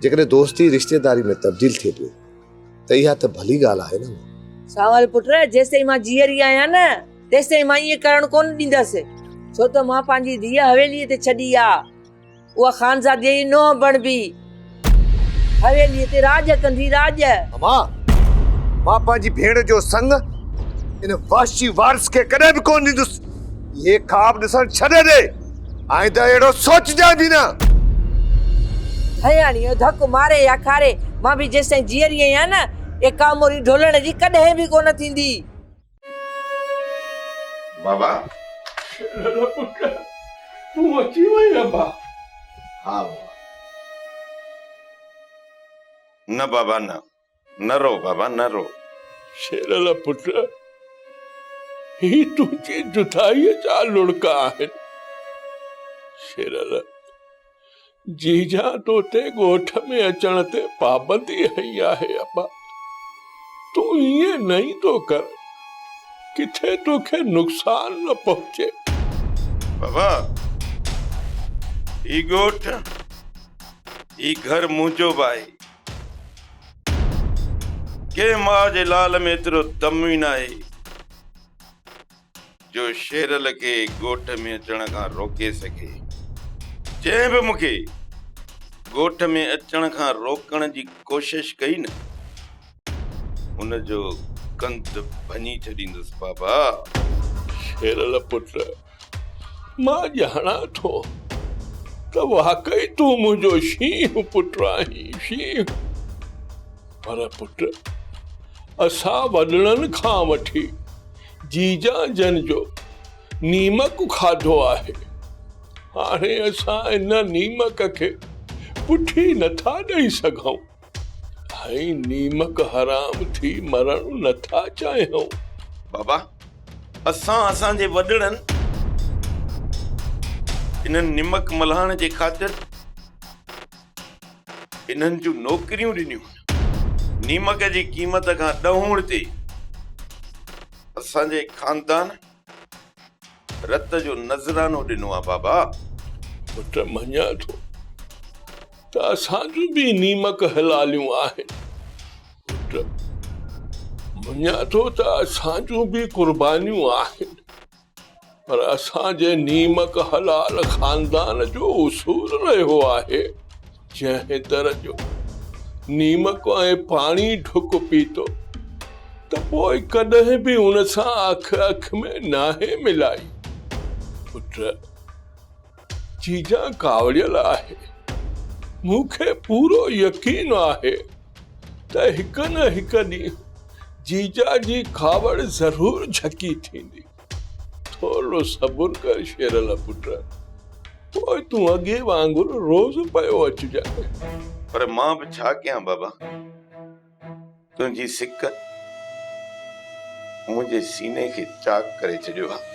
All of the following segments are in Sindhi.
جيڪڏهن دوستي رشتيداري ۾ تبديل ٿئي پئي ته اها ته ڀلي ڳالهه آهي نه مون. سانول پٽ، جيستائين مان جيئري آهيان نه تيستائين مان ائين ڪرڻ ڪونه ڏيندس، ڇو ته مان پنهنجي ڌيء حويليء تي ڇڏي آ. اها خانزاديء جي نونهن بڻبي، حويليء تي راڄ ڪندي راڄ. امان! مان پنهنجي ڀيڻ جو سڱ ان وحشي وارث کي ڪڏهن به ڪونه ڏيندس. اهي خواب ڏسڻ ڇڏي ڏي. آئنده اهڙو سوچجانء به نه. هياڻيء ڌڪ ماري يا کاري، مان به جيستائين جيئري آهيان نه، اها ڪاموري ڍولڻ جي ڪڏهن به ڪونه ٿيندي. بابا شڪر پٽ تون اچي وئين ابا ها بابا نه بابا نه نه رو بابا نه رو شيرل پٽ هي تنهنجي جدائي جا لڙڪ آهن شيرل جيجا توتي ڳوٺ ۾ اچڻ تي پابندي هنئي آهي ابا تون ائين نه ايندو ڪر ڪٿي توکي نقصان نه پهچي. بابا هي ڳوٺ هي گهر منهنجو به آهي ڪنهن ماء جي لال ۾ ايترو دم ئي ناهي جو شيرل کي ڳوٺ ۾ اچڻ کان روڪي سگهي. جنهن به مون کي ڳوٺ ۾ اچڻ کان روڪڻ جي ڪوشش ڪئي نه، ان جو ڪنڌ ڀڃي ڇڏيندس بابا! شيرل پٽ، مان ڄاڻان ٿو ته واقعي تون منهنجو شينهن پٽ آهين، شينهن! پر پٽ، اسان وڏڙن کان وٺي جيجان جن جو نيمڪ کاڌو آهي، هاڻي اسان ان نيمڪ کي پٺي نٿا ڏئي سگهون ۽ نيمڪ حرام ٿي مرڻ نٿا چاهيون. بابا، اسان اسان جي وڏڙن انهن نيمڪ ملهائڻ جي خاطر. انهن جون نوڪريون ڏنيون هن. نيمڪ جي قيمت کان ڏهوڻ تي اسان جي خاندان رت جو نذرانو ڏنو آ بابا. پٽ مڃان ٿو ته اسان جون به نيمڪ حلاليون آهن. پٽ مڃان ٿو ته اسان جون به قربانيون آهن. پر اسان جي نيمڪ حلال خاندان جو اصول رهيو آهي، جنهن در جو نيمڪ ۽ پاڻي ڍڪ پيتو ته پوء ڪڏهن به ان سان اک اک ۾ ناهي ملائي. پٽ! جيجان ڪاوڙيل آهي. مون کي پورو يقين آهي. ته هڪ نه هڪ ڏينهن جيجا جي کاوڙ ضرور جهڪي ٿيندي. ٿورڙو صبر ڪر شيرل پٽ، پوء تون اڳي وانگر روز پيو اچجانء. پر مان به ڇا ڪيان بابا، تنهنجي سڪ منهنجي سيني کي چاڪ ڪري ڇڏيو آهي.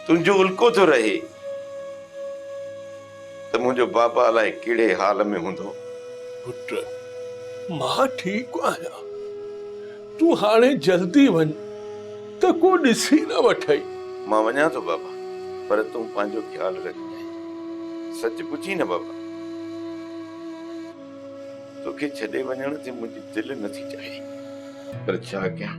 تنهنجو الڪو ٿو رهي ته منهنجو بابا الائي ڪهڙي حال ۾ هوندو. پٽ، مان ٺيڪ آهيان. تون هاڻي جلدي وڃ ته ڪو ڏسي نه وٺئي. مان وڃان ٿو بابا، پر تون پنهنجو خيال رکجانء. سچ پڇين نه بابا، توکي ڇڏي وڃڻ تي منهنجي دل نٿي چاهي. پر ڇا ڪيان؟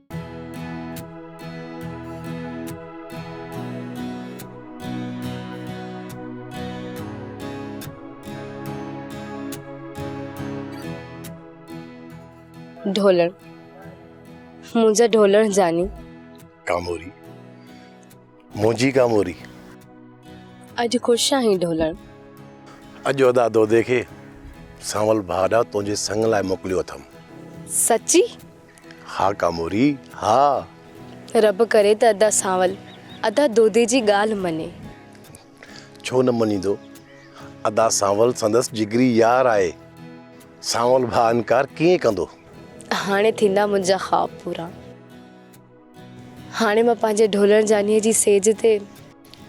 ڍولڻ منهنجا ڍولڻ جاني ڪاموري منهنجي ڪاموري اڄ خوش آهين ڍولڻ اڄ ادا دودي کي سانول ڀاڏا تنهنجي سڱ لاء موڪليو اٿم سچي ها ڪاموري، ها! رب ڪري ته ادا سانول ادا دودي جي ڳالهه مڃي. ڇو نه مڃيندو؟ ادا سانول سندس جگري يار آهي. سانول ڀاء انڪار ڪيئن ڪندو؟ هاڻي ٿيندا منهنجا خواب پورا. هاڻي مان پنهنجي ڍولڻ جانيء جي سيج تي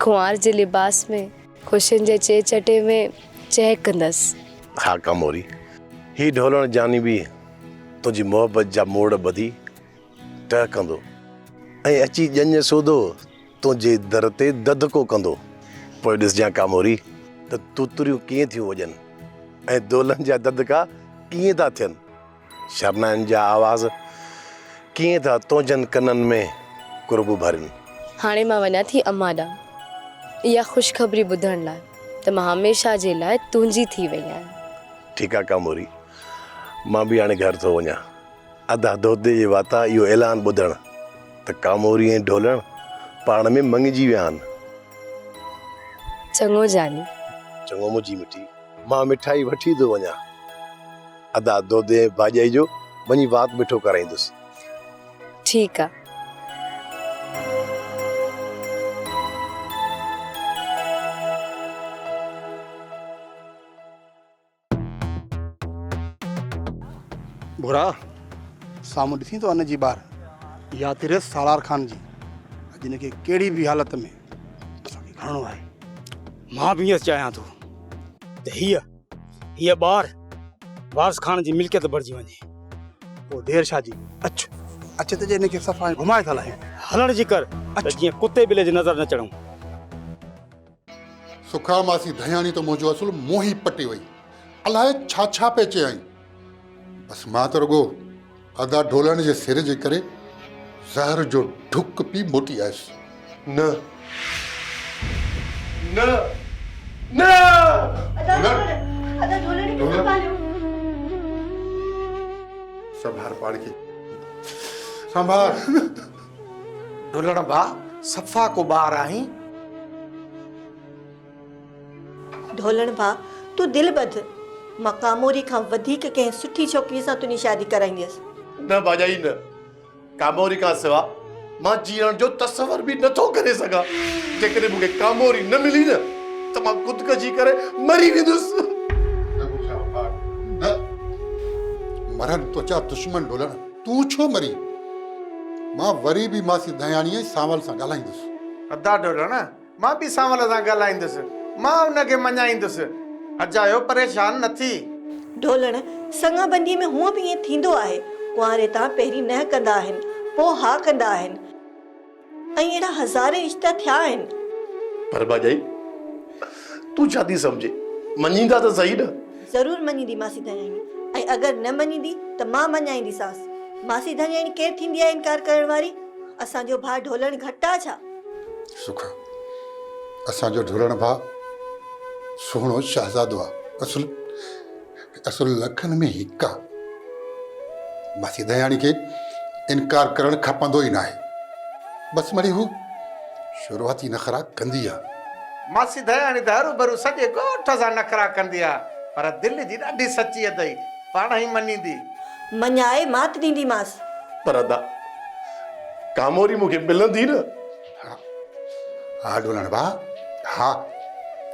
ڪنوار جي لباس ۾، خوشين جي چي چٽي ۾ چهڪندس. خاڪا موري، هي ڍولڻ جاني به تنهنجي محبت جا موڙ ٻڌي ٽهڪندو ۽ اچي ڄڃ سوڌو تنهنجي در تي دڌڪو ڪندو. پوء ڏسجان ڪاموري ته توتريون ڪيئن ٿيون وڄن ۽ دولن جا دڌڪا ڪيئن ٿا ٿين. شرنائن جا آواز، ڪيئن ٿا تنهنجن ڪنن ۾ قرب ڀرين. هاڻي مان وڃان ٿي امان ڏانهن، اها خوشخبري ٻڌڻ لاء ته مان هميشه جي لاء تنهنجي ٿي وئي آهيان. ٺيڪ آ ڪاموري، مان به هاڻي گهر ٿو وڃان. ادا دودي جي واتا اهو اعلان ٻڌڻ ته ڪاموري ۽ ڍولڻ پاڻ ۾ مڱجي ويا آهن. چڱو جاني. چڱو منهنجي مٺي، مان مٺائي وٺي ٿو وڃان. ادا دودي ڀاڄائي جو وڃي وات مٺو ڪرائيندس. ٺيڪ آ. ڀورا! سامهون ڏسين ٿو ان جي ٻار يا تريس سالار خان جي اڄ ان کي ڪهڙي به حالت ۾ اسان کي کڻڻو آهي. مان به ائين چاهيان ٿو ته هيء هيء ٻار وارث خان جي ملڪيت بڻجي وڃي. پوء دير شاهه جي اچ اچ تي جي هن کي صفا ائين گهمائي ٿا لاهيون. هلڻ جي ڪر ته جيئن ڪتي ٻلي جي نظر نه چڙهون. سکرا ماسي ڌياڻي ته منهنجو اصل منهن ئي پٽي وئي. الاهي ڇا ڇا پئي چيائين. بس مان ته رڳو ادا ڍولڻ جي سر جي ڪري زهر جو ڍڪ پي موٽي آيس. نه نه نه ادا ڍولڻ ادا ڍولڻ کي سنڀاليو. سنڀار پاڻ کي سنڀار. ڍولڻ ڀاء صفا ڪو ٻار آهين. ڍولڻ ڀاء تون دل ٻڌ، مان ڪاموري کان وڌيڪ ڪنهن سٺي ڇوڪريء سان تنهنجي شادي ڪرائينديس. نه ڀاڄائي نه، ڪاموري کان سوا مان جيئڻ جو تصور به نه ٿو ڪري سگهان. جيڪڏهن مون کي ڪاموري نه ملي نه ته مان خودڪشي ڪري مري ويندس. نگو شاهه ڀاء نه، مرن تنهنجا دشمن ڍولڻ، تون ڇو مرين؟ مان وري به ماسي دهياڻيء ۽ سانول سان ڳالهائيندس. ادا ڍولڻ! مان به سانول سان ڳالهائيندس. مان ان کي مڃائيندس. اجايو پريشان نه ٿي. ڍولڻ، سڱا بنديء ۾ هونء به ائين ٿيندو آهي. ڪنواري تان پهرين نه ڪندا آهن، پوء ها ڪندا آهن. ۽ اهڙا هزارين رشتا ٿيا آهن. پر ڀاڄائي، تون ڇا ٿي سمجهين؟ مڃيندا ته سهي نه. ضرور مڃيندي ماسي ڌڻياڻي. ۽ اگر نه مڃيندي ته مان مڃائينديسانس. ماسي ڌڻياڻي ڪير ٿيندي آهي انڪار ڪرڻ واري؟ اسان جو ڀاء ڍولڻ گهٽ آ ڇا؟ سکا اسان جو ڍورڻ ڀاء سهڻو شهزادو آ اصل اصل لکن ۾ هڪ آ ماسي دياڻي کي انڪار ڪرڻ کپندو ئي ناهي بس مڙي هو شروعاتي نخرا ڪندي آ. ماسي دياڻي ته هروڀرو سڄي ڳوٺ سان نخرا ڪندي آ پر دل جي ڏاڍي سچي اٿئي پاڻ هي مڃيندي. مڃائي مات ڏينديمانس. پر ادا ڪاموري مون کي ملندي نه؟ ها ها ڊولڻ ڀاء ها.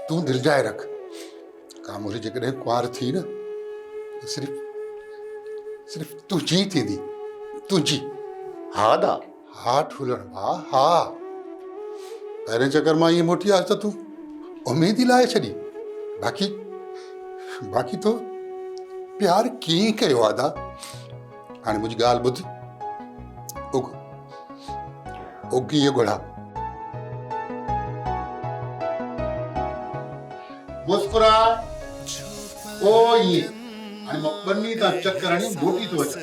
تون دلجاء رک. ڪاموري جيڪڏهن ڪنوار ٿي نه ته صرف صرف تنهنجي ئي ٿيندي. تنهنجي. ها ادا. ها ٺولڻ ڀاء ها. پهرين چڪر مان ائين موٽي آيس ته تون اميد ئي لاهي ڇڏي. باقي باقي تو پيار ڪيئن ڪيو ادا؟ هاڻي منهنجي ڳالهه ٻڌ. اگ اگ هي ڳڙها. مسڪراء پوء ائين هاڻي مان ٻني تان چڪر هڻي موٽي ٿو اچان.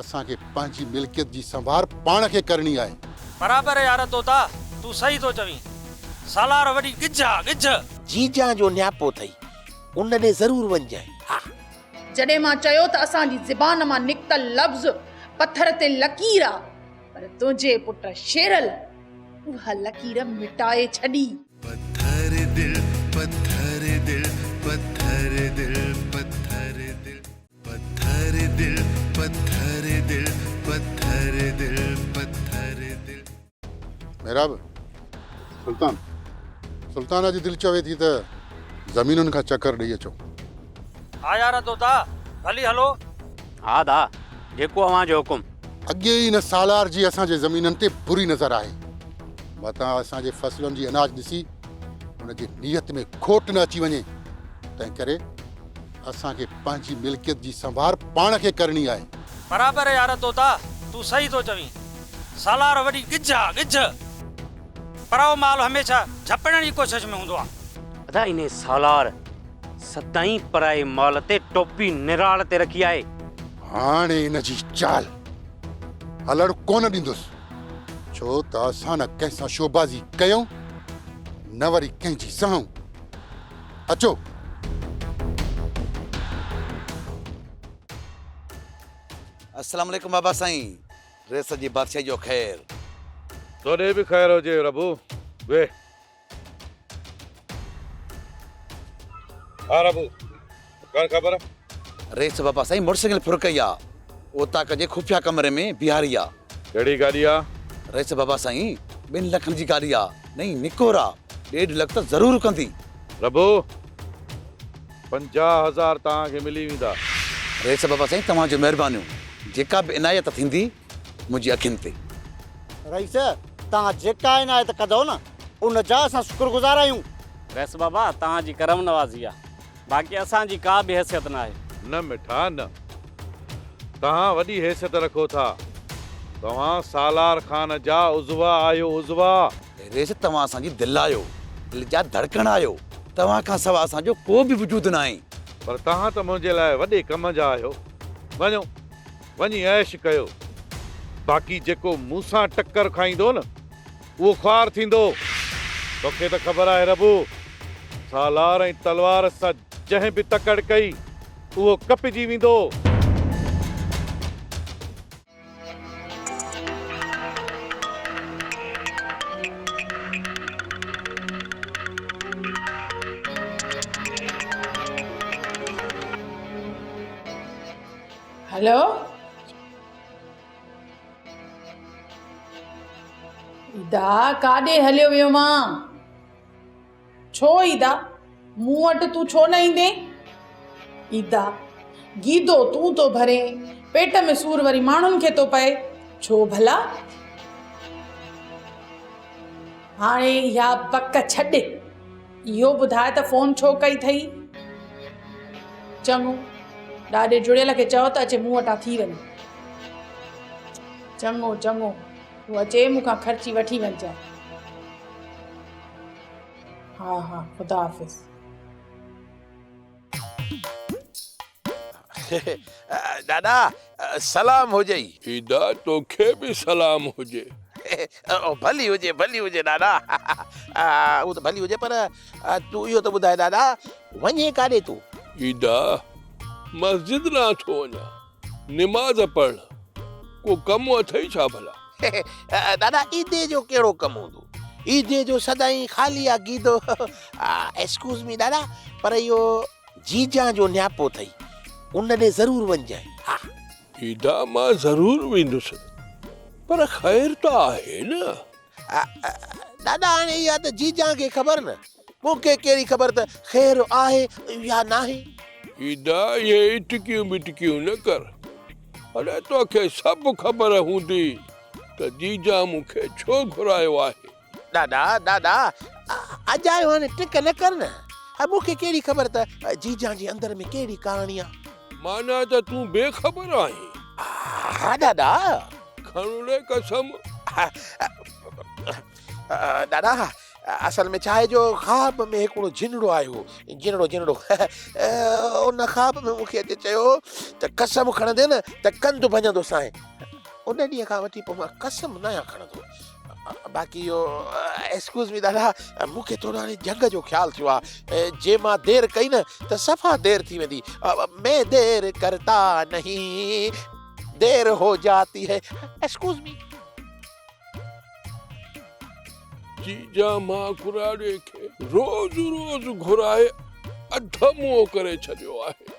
اسان کي پنهنجي ملڪيت جي سنڀار پاڻ کي ڪرڻي آهي. برابر يار طوطا تون صحيح ٿو چوين سالار وڏي ڳجهه آ ڳجهه. جيجان جو نياپو اٿئي ان ڏي ضرور وڃجانء ها. جڏهن مان چيو ته اسان جي زبان مان نڪتل لفظ پٿر تي لڪير آ پر تنهنجي پٽ شيرل اها لڪير مٽائي ڇڏي. پٿر دل پٿر دل پٿر دل پٿر دل. پٿر دل پٿر دل پٿر دل پٿر دل. محراب، سلطان، سلطان جي دل چوي ٿي ته زمينن کان چڪر ڏئي اچو. ها يار طوطا، ڀلي هلو. ها دا، جيڪو اوهان جو حڪم. اڳي ئي هن سالار جي اسان جي زمينن تي بري نظر آهي. متان اسان جي فصلن جي اناج ڏسي هن جي نيت ۾ کوٽ نه اچي وڃي، تنهنڪري اسان کي پنهنجي ملڪيت جي سنڀار پاڻ کي ڪرڻي آهي. برابر يار طوطا تون صحيح ٿو چوين سالار وڏي ڳجهه آ ڳجهه پرائو مال هميشه جهپڻ جي ڪوشش ۾ هوندو آ. ادا انهي سالار سدائين پرائي مال تي ٽوپي نراڙ تي رکي آهي. هاڻي ان جي چال هلڻ ڪونه ڏيندس ڇو ته اسان نه ڪنهن سان شوبازي ڪيون نه وري ڪنهن جي سهون. اچو. السلام عليڪم بابا سائين ريس جي بادشاهي جو خير. تو ڏي به خير هجي ربو ويهه. ها ربو کڻ خبر. ريس بابا سائين موٽر سائيڪل ڦرڪئي آ اوطاق جي خفيه ڪمري ۾ بيهاري آ. ڪهڙي گاڏي آ؟ رئيس بابا سائين ٻن لکن جي گاڏي آ نئين نڪور آ ڏيڍ لک ته ضرور رڪندي. ربو پنجاهه هزار توهان کي ملي ويندا. رئيس بابا سائين توهان جون مهربانيون جيڪا به عنايت ٿيندي منهنجي اکين تي. رئيس توهان جيڪا عنايت ڪندؤ نه ان جا اسان شڪر گذار آهيون. رئيس بابا توهان جي ڪرم نوازي آ باقي اسان جي ڪا به حيثيت ناهي. نه مٺا نه. توهان وڏي حيثيت رکو ٿا. توهان سالار خان جا عضوا آهيو عضوا. ريس توهان اسان جي دل آهيو. دل جا ڌڙڪڻ آهيو. توهان کان سواء اسان جو ڪو به وجود ناهي. پر توهان ته منهنجي لاء وڏي ڪم جا آهيو. وڃو وڃي عيش ڪيو. باقي جيڪو مون سان ٽڪر کائيندو نه اهو خوار ٿيندو. توکي ته خبر آهي ربو، سالار ۽ تلوار سان جنهن به تڪڙ ڪئي، اهو ڪپجي ويندو. هلو! ادا ڪاڏي هليو ويو مانء؟ ڇو ادا مون وٽ تون ڇو نه ايندين؟ ادا گيدو تون ٿو ڀرين پيٽ ۾ سور وري ماڻهن کي ٿو پئي ڇو ڀلا؟ هاڻي اها بڪ ڇڏ. اهو ٻڌاء ته فون ڇو ڪئي اٿئي؟ چڱو، ڏاڏي جڙيل کي چئو ته اچي مون وٽان ٿي وڃي. چڱو چڱو، تون اچي مون کان خرچي وٺي وڃجانء. ها ها، خدا حافظ. ڏاڏا سلام هجئي. ادا توکي به سلام هجي. ڀلي هجي ڀلي هجي ڏاڏا. اهو ته ڀلي هجي پر تون اهو ته ٻڌاء ڏاڏا وڃين ڪاڏي تون؟ ادا مسجد ڏانهن ٿو وڃان نماز پڙهڻ. ڪو ڪم اٿئي ڇا ڀلا؟ ڏاڏا عيدي جو ڪهڙو ڪم هوندو؟ عيدي جو سدائين خالي آ گيدو. ايڪسڪيوز مي ڏاڏا پر اهو. جيجان جو نياپو اٿئي ان ڏي ضرور وڃجانء ها. جيجا مان ضرور ويندس پر خير ته آهي نه. ڏاڏا هاڻي اها ته جيجان کي خبر نه مون کي ڪهڙي خبر ته خير آهي يا ناهي. جيجا اهي اٽڪيون ٻٽڪيون نه ڪر اڙي توکي سڀ خبر هوندي ته جيجان مون کي ڇو گهرايو آهي. ڏاڏا ڏاڏا اڄ آيو آهين ٽڪ نه ڪر نه. مون کي ڪهڙي خبر ته جيجان جي اندر ۾ ڪهڙي ڪهاڻي آ. معنيٰ ته تون بي خبر آهين. ها ڏاڏا. کڻ لي قسم. ڏاڏا اصل ۾ ڇا آهي جو خواب ۾ هڪڙو جنڙو آيو هو. جنڙو جنڙو. ان خواب ۾ مون کي اچي چيو هو ته قسم کڻندين ته ڪنڌ ڀڃندوسانء. ان ڏينهن کان وٺي پوء مان قسم ناهيان کڻندو. باقي اهو ايڪسڪيوز مي دادا مون کي ٿورو هاڻي جهڳ جو خيال ٿيو آهي جي مان دير ڪئي نه ته صفا دير ٿي ويندي مين دير ڪرتا نهي دير هو جاتي هي ايڪسڪيوز مي جي جا مان ڪراڙي کي روز روز گهرائي اڌ منهن ڪري ڇڏيو آهي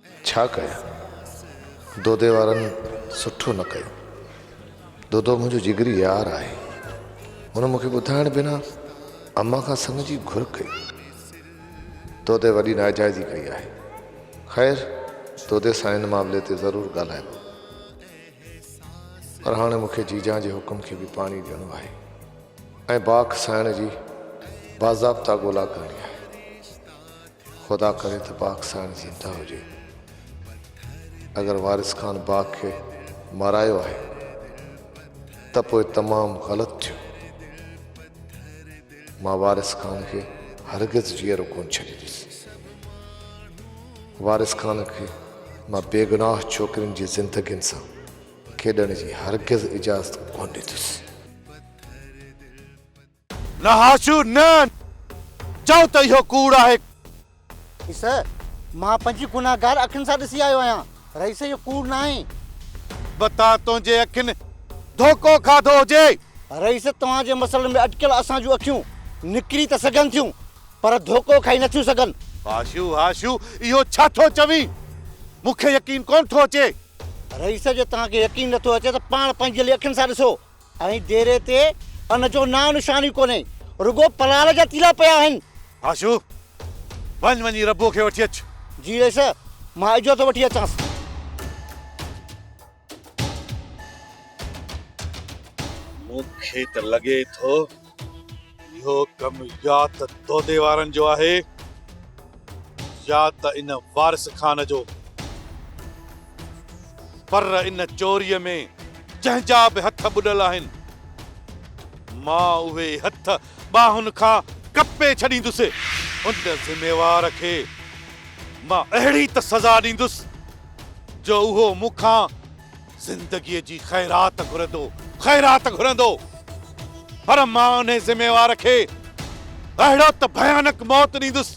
ڇا ڪيان دودي وارن سٺو نه ڪيو. دودو منهنجو جگري يار آهي. هن مونکي ٻڌائڻ بنا امان کان سڱ جي گهر ڪئي. دودي وڏي ناجائزي ڪئي آهي. خير دودي سان ان معاملي تي ضرور ڳالهائبو. پر هاڻي مونکي جيجان جي حڪم کي به پاڻي ڏيڻو آهي ۽ باک سائڻ جي باضابطا ڳولا ڪرڻي آهي. خدا ڪري ته باک سائڻ زنده هجي. اگر وارث خان باک کي مارايو آهي ته پوء تمام غلط ٿيو. مان وارث خان کي هرگز جيئرو ڪونه ڇڏيندس. وارث خان کي مان بيگناهه ڇوڪرين جي زندگين سان کيڏڻ جي هرگز اجازت ڪونه ڏيندس. نه هاشو نه! چئو ته اهو ڪوڙ آهي. رئيس، مان پنهنجي گنهگار اکين سان ڏسي آيو آهيان. رئيس، اهو ڪوڙ ناهي. بتا تنهنجي اکين ڌوڪو کاڌو هجي. رئيس، توهان جي مسئلن ۾ اٽڪيل اسان جون اکيون نڪري ته سگهن ٿيون پر ڌوڪو کائي نٿيون سگهن. هاشو، هاشو اهو ڇا ٿو چوين؟ مون کي يقين ڪونه ٿو اچي. رئيس، جي توهان کي يقين نٿو اچي ته پاڻ پنهنجي لئي اکين سان ڏسو. ۽ ديري تي ان جو نانء نشان ئي ڪونهي، رڳو پلال جا تيلا پيا آهن. آشو! وڃ وڃي ربو کي وٺي اچ. جي رئيس، مان اجهو ٿو وٺي اچانس. مون کي ته لڳي ٿو. اهو ڪم يا ته دودي وارن جو آهي يا ته ان وارث خان جو. پر ان چوريء ۾ جنهن جا به هٿ ٻڏل آهن، مان اهي هٿ ٻانهن کان ڪپي ڇڏيندس. ان ذميوار کي مان اهڙي ته سزا ڏيندس، جو اهو مون کان زندگيء جي خيرات گهرندو، خيرات گهرندو، پر مان انهي ذميوار کي اهڙو ته ڀيانڪ موت ڏيندس.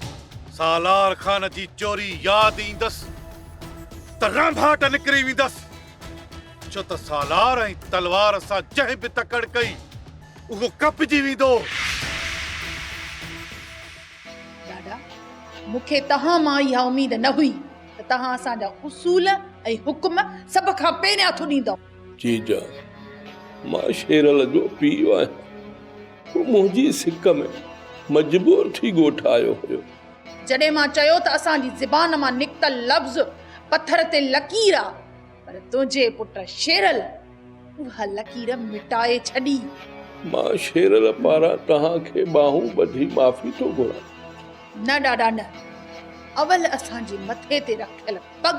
سالار خان جي چوري ياد ايندس ته رانڀاٽ نڪري ويندس، ڇو ته سالار ۽ تلوار سان جنهن به تڪڙ ڪئي، اهو ڪپجي ويندو. ڏاڏا، مون کي توهان مان اها اميد نه هئي. ته توهان اسان جا اصول ۽ حڪم سڀ کان پهرين هٿ ڏيندؤ. جيجا مان شيرل جو پيء آهيان، هو منهنجي سڪ ۾ مجبور ٿي ڳوٺ آيو هيو. جڏهن مان چيو ته اسان جي زبان مان نڪتل لفظ پٿر تي لڪير آ. پر تنهنجي پٽ شيرل اها لڪير مٽائي ڇڏي. مان شيرل پاران توهان کي ٻانهون ٻڌي معافي ٿو گهران. نه ڏاڏا نه. اول اسان جي مٿي تي رکيل پڳ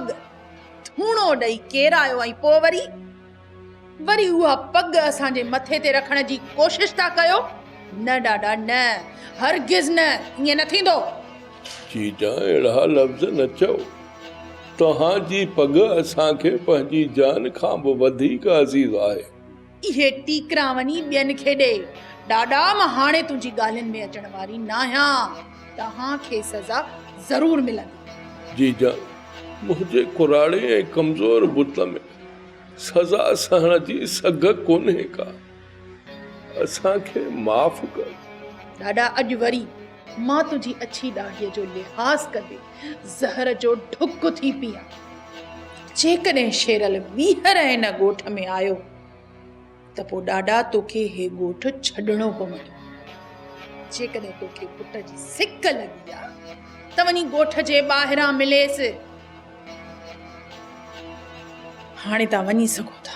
ٿوڻو ڏئي ڪيرايو ۽ پوء وري. وري اها پڳ اسان جي مٿي تي رکڻ جي ڪوشش ٿا ڪيو؟ نه ڏاڏا نه، هرگز نه، ائين نه ٿيندو. جيجان اهڙا لفظ نه چئو. توهان جي پڳ اسان کي پنهنجي جان کان به وڌيڪ عزيز آهي. اهي ٽيڪرا وڃي ٻين کي ڏي. ڏاڏا مان هاڻي تنهنجي ڳالهين ۾ اچڻ واري ناهيان. توهان کي سزا ضرور ملندي. جيجان منهنجي ڪراڙي ۽ ڪمزور بت ۾. سزا سهڻ جي سگهه ڪونهي ڪا. اسان کي معاف ڪر. ڏاڏا اڄ وري مان تنهنجي اڇي ڏاڙهيء جو لحاظ ڪندي زهر جو ڍڪ ٿي پيان. جيڪڏهن شيرل ٻيهر هن ڳوٺ ۾ آيو. ته پوء ڏاڏا توکي هي ڳوٺ ڇڏڻو پوندو. جيڪڏهن توکي پٽ جي سڪ لڳي آ ته وڃي ڳوٺ جي ٻاهران مليس. هاڻي توهان وڃي سگهو ٿا.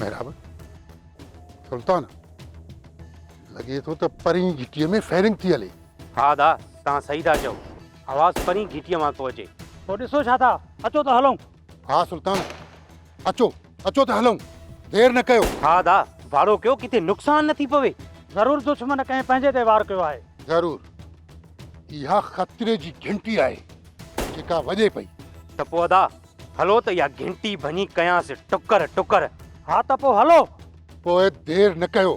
محراب سلطان لڳي ٿو ته پرين گهٽيء ۾ فائرنگ ٿي هلي ها دا توهان صحيح ٿا چئو آواز پرين گهٽيء مان ٿو اچي پوء ڏسو ڇا ٿا اچو ته هلون ها سلطان اچو اچو ته هلون دير نه ڪيو ها دا ڀاڙو ڪيو ڪٿي نقصان نه ٿي پوي ضرور دشمن ڪنهن پنهنجي تي وار ڪيو آهي ضرور اها خطري جي گھنٽي آهي جيڪا وڄي پئي ته پوء ادا هلو ته اها گھنٽي ڀڃي ڪيانس ٽڪر ٽڪر ها ته پوء هلو پوء دير نه ڪيو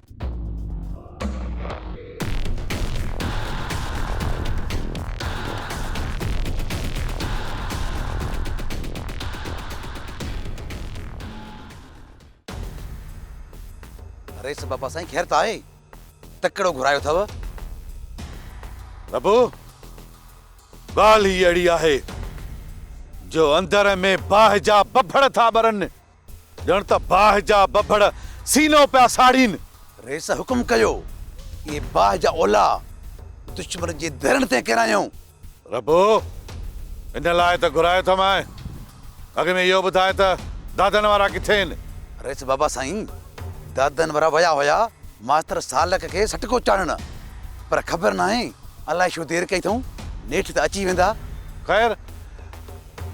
رئيس بابا سائين خير ته آهي؟ تڪڙو گهرايو اٿئو. بابو ڳالهه ئي اهڙي آهي جو اندر ۾ باهه جا ٻڀڙ ٿا ٻرن. ڄڻ ته باهه جا ٻڀڙ سينو پيا ساڙين. رئيس حڪم ڪيو، اهي باهه جا اولها دشمن جي ديرن تي ڪيرايون. ربو! ان لاء ته گهرايو ٿم آء. اڳ ۾ اهو ٻڌاء ته دادن وارا ڪٿي آهن؟ رئيس بابا سائين، دادن وارا ويا هيا ماستر سالڪ کي سٽڪو چاڙهڻ. پر خبر ناهي الائي ڇو دير ڪئي اٿئون، نيٺ ته اچي ويندا. خير!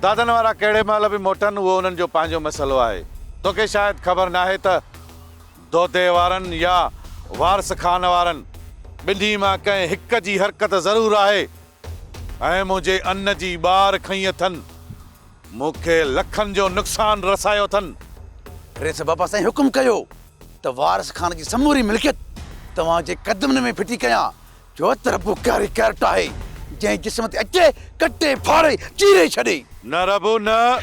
دادن وارا ڪهڙي مهل به موٽن اهو انهن جو پنهنجو مسئلو آهي. توکي شايد خبر ناهي ته دودي وارن يا وارث خان وارن ٻنهي مان ڪنهن هڪ جي حرڪت ضرور آهي ۽ منهنجي ان جي ٻار کنئي اٿن. مون کي لکن جو نقصان رسايو اٿن. رئيس بابا سائين حڪم ڪيو ته وارث خان جي سموري ملڪيت توهان جي قدمن ۾ ڦٽي ڪيان جو تربو ڪاري ڪارٽ آهي، جنهن جسم تي اچي ڪٽي ڦاڙي چيري ڇڏي. نه ربو نه،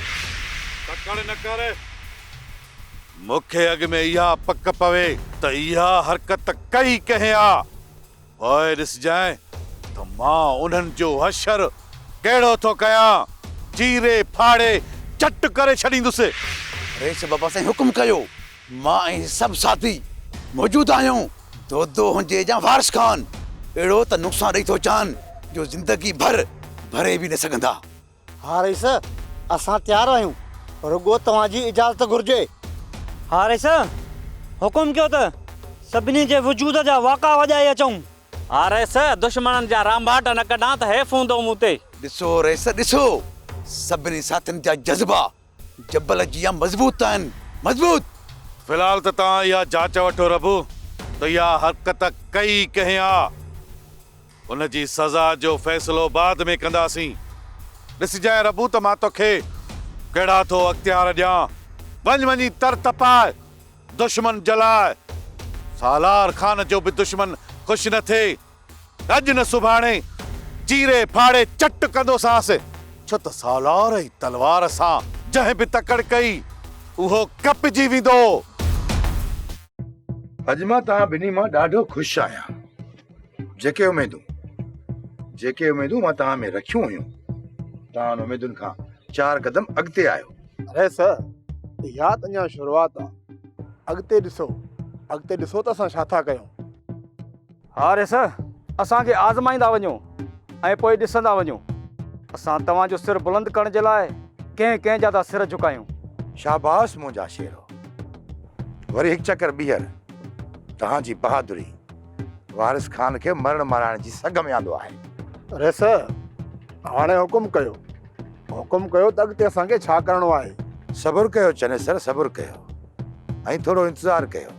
تڪڙ نه ڪر، مون کي اڳ ۾ اها پڪ پوي ته اها حرڪت ڪئي ڪنهن آ، پوء ڏسجانء ته مان انهن جو حشر ڪهڙو ٿو ڪيان، چيري ڦاڙي چٽ ڪري ڇڏيندس. رئيس بابا سائين حڪم ڪيو مان ۽ سڀ ساٿي موجود آهيون، دودو هجي يا وارث خان، اهڙو ته نقصان ڏئي ٿو چان جو زندگي ڀر ڀري به نه سگهندا. ها رئيس، اسان تيار آهيون، رڳو توهان جي اجازت گهرجي. ها رئيس، حڪم ڪيو ته سڀني جي وجود جا واڪا وڄائي اچون. ها رئيس، دشمنن جا رانڀاٽ نه ڪڍان ته حيف هوندو مون تي. ڏسو رئيس ڏسو، سڀني ساٿين جا جذبا جبل جيان مضبوط آهن مضبوط. في الحال ته توهان اها جاچ وٺو ربو ته اها حرڪت ڪئي ڪنهن آ. ان جي سزا جو فيصلو بعد ۾ ڪنداسين. ڏسجانء ربو ته مان توکي ڪهڙا ٿو اختيار ڏيان. وڃ وڃي تر تپاء دشمن جلاء. سالار خان جو به دشمن خوش نه ٿئي. اڄ نه سڀاڻي چيري ڦاڙي چٽ ڪندوسانس، ڇو ته سالار ۽ تلوار سان جنهن به تڪڙ ڪئي، اهو ڪپجي ويندو. اڄ مان توهان ٻنهي مان ڏاڍو خوش آهيان. جيڪي اميدون، جيڪي اميدون مان توهان ۾ رکيون هيون، توهان ان اميدن کان چار قدم اڳتي آهيو. اڙي سر، اها ته اڃا شروعات آهي. اڳتي ڏسو، اڳتي ڏسو ته اسان ڇا ٿا ڪيون. حارث، اسان کي آزمائيندا وڃو ۽ پوء ڏسندا وڃو. اسان توهان جو سر بلند ڪرڻ جي لاء ڪنهن ڪنهن جا ٿا سر جهڪايون. شاباس منهنجا شيرو. وري هڪ چڪر ٻيهر توهان جي بهادري وارث خان کي مرڻ مارائڻ جي سگهه ۾ آندو آهي. حارث، هاڻي حڪم ڪيو. حڪم ڪيو ته اڳتي اسان کي ڇا ڪرڻو آهي؟ صبر ڪيو چنيسر صبر ڪيو ۽ ٿورو انتظار ڪيو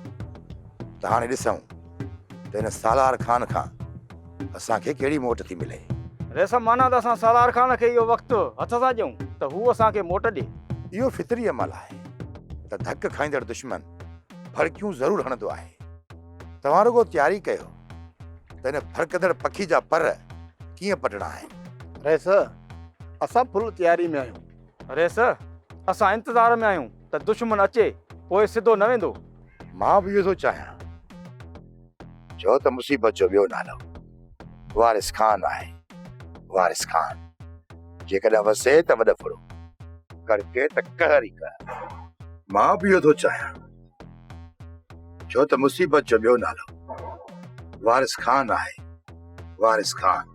ته هاڻي ڏسون. ته هن سالار خان کان اسان کي ڪهڙي موٽ ٿي ملي؟ ريسم معنيٰ ته اسان سالار خان کي اهو وقت هٿ سان ڏيون ته هو اسان کي موٽ ڏي. اهو فطري عمل آهي ته ڌڪ کائيندڙ دشمن ڦڙڪيون ضرور هڻندو آهي. توهان رڳو تياري ڪيو ته هن ڦڙڪندڙ پکي جا پر ڪيئن پٽڻا آهن. ريس، اسان فل تياري ۾ آهيون. ريس، اسان انتظار ۾ آهيون. ته دشمن اچي پوء سڌو نه ويندو. مان به اهو ٿو چاهيان. چؤ ته مصيبت جو ٻيو نالو وارث خان آهي. وارث خان جيڪڏهن وسي ته وڏ ڦڙو. ڪڙڪي ته قهر ئي قهر. مان به اهو ٿو چاهيان. چؤ ته مصيبت جو ٻيو نالو وارث خان آهي. وارث خان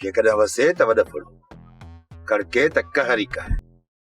جيڪڏهن وسي ته وڏ ڦڙو. ڪڙڪي ته قهر ئي قهر.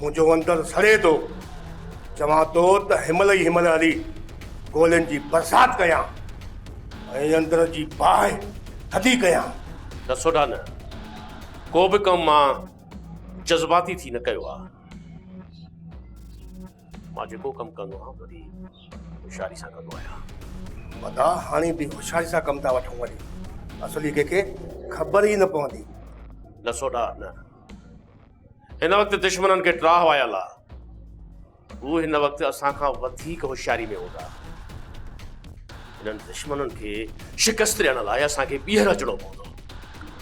منهنجو اندر سڙي ٿو. چوان ٿو ته هنمهل ئي هنمهل هلي گولين جي برسات ڪيان ۽ اندر جي باهه ٿڌي ڪيان. نه سوڍا نه. ڪو به ڪم مان جذباتي ٿي نه ڪيو آهي. مان جيڪو ڪم ڪندو آهيان وڏي هوشياري سان ڪندو آهيان. مداح هاڻي به هوشياري سان ڪم ٿا وٺون وري اصلي ڪنهن کي خبر ئي نه پوندي. نه سوڍا نه. هن وقت دشمنن کي ٽراهه آيل آ. هو هن وقت اسان کان وڌيڪ هوشياري ۾ هوندا. هنن دشمنن کي شڪست ڏيڻ لاء اسان کي ٻيهر اچڻو پوندو.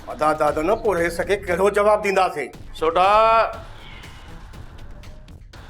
ادا دادا نه پورهيس کي ڪهڙو جواب ڏينداسين. سوڍا!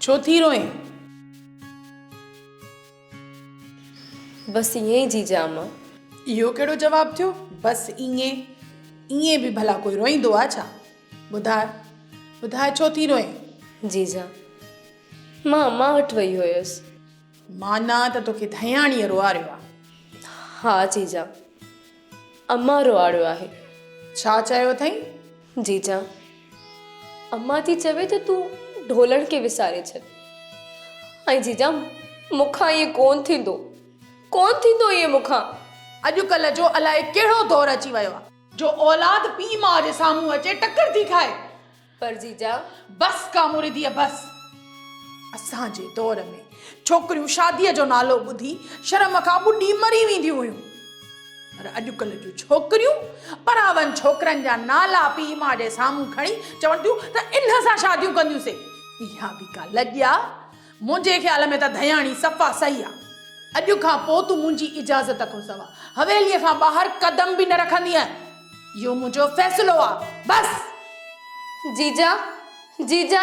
ڇو ٿي روئين؟ بس ائين ئي جيجا م. اهو ڪهڙو جواب ٿيو بس ائين؟ ائين به ڀلا ڪوئي روئيندو آ ڇا؟ ٻڌاء ٻڌاء ڇو ٿي روئين؟ جيجا مان امان وٽ وئي هيس. معنيٰ ته توکي ڌياڻيء روئاريو آ. ها جيجا امان روئاڙيو آهي. ڇا چيو اٿئي؟ جيجان امان ٿي چوي ته تون ڍولڻ کي وساري ڇڏ. ۽ جيجا مون کان ائين ڪون ٿيندو. ڪون ٿيندو ائين مون کان. اڄڪلهه جو الائي ڪهڙو دور اچي ويو آهي. جو اولاد پيء ماء جي سامهون اچي ٽڪر ٿي کائي. پر جيجا. بس ڪاموريديء بس! اسان جي دور ۾ ڇوڪريون شاديء جو نالو ٻڌي شرم کان ٻڏي مري وينديون هيون. پر اڄڪلهه جون ڇوڪريون پراون ڇوڪرن جا نالا پيء ماء جي سامهون کڻي چون ٿيون ته انهن سان شاديون ڪنديون سي. اها به ڪا لڄ آ! منهنجي خيال ۾ ته ڌياڻي صفا صحيح آ. اڄ کان پوء تون منهنجي اجازت کان سوا حويليء کان ٻاهر قدم به نه رکندينء. اهو منهنجو فيصلو آ. بس! جيجا! جيجا!